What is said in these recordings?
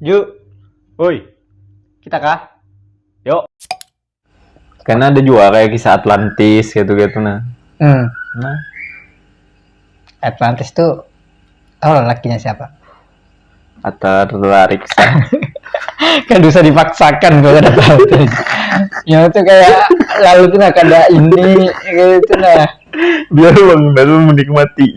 Yuk. Woi. Kita kah? Yuk. Karena ada juga kayak kisah Atlantis gitu-gitu nah. Hmm. Nah. Atlantis tuh tahu lah lakinya siapa? Atau tertarik kan bisa dipaksakan kalau ada tahu ya itu kayak lalu tuh nah kada ini gitu nah biar bang baru menikmati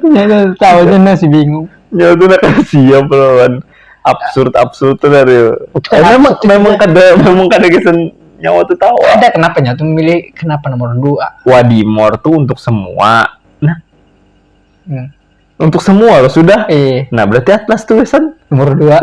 Ternyata tahu aja masih bingung. Ya itu nak siap lawan absurd absurd tuh dari. Eh, memang memang kada memang kada kesan nyawa tuh tahu. Ada kenapa nya tuh memilih kenapa nomor dua? Wadimor tuh untuk semua. Nah, hmm. untuk semua loh sudah. Eh. Nah berarti Atlas tuh kesan nomor dua.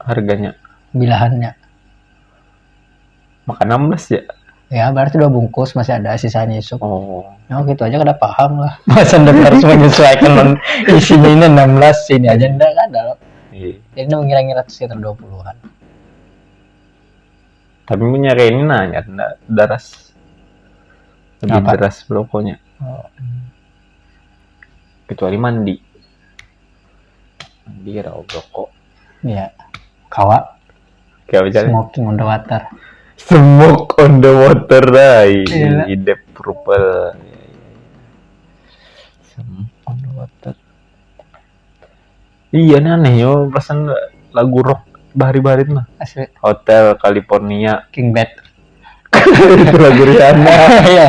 harganya bilahannya makan 16 ya ya berarti dua bungkus masih ada sisanya isu oh ya gitu aja kada paham lah masa ndak harus menyesuaikan non isinya ini 16 sini aja ndak ada loh iya. jadi ndak mengira-ngira sekitar 20-an tapi punya ini nanya ndak daras lebih Apa? deras pokoknya oh. kecuali mandi di rau rokok ya kawa kawa jalan smoking on the water smoke on the water rai iya. hidup purple smoke on the water iya nih aneh yo pesan lagu rock bahari bahari mah asli hotel California King Bad itu lagu Rihanna iya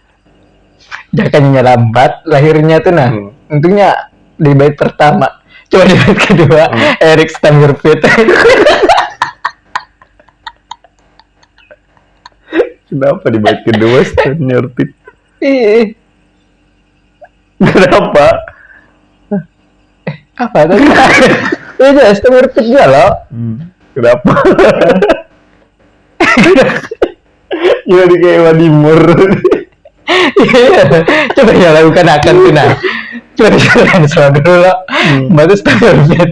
Jakanya lambat lahirnya tuh nah. Hmm. Untungnya di bait pertama. Coba di bait kedua, hmm. Eric Stammerfit. Kenapa di bait kedua Stammerfit? Kenapa? eh apa tadi ya aja es tawar pit ya lo hmm. kenapa ya di kayak wadimur iya. coba ya lakukan akan tuh nah coba jalan dulu lo hmm. bagus tawar pit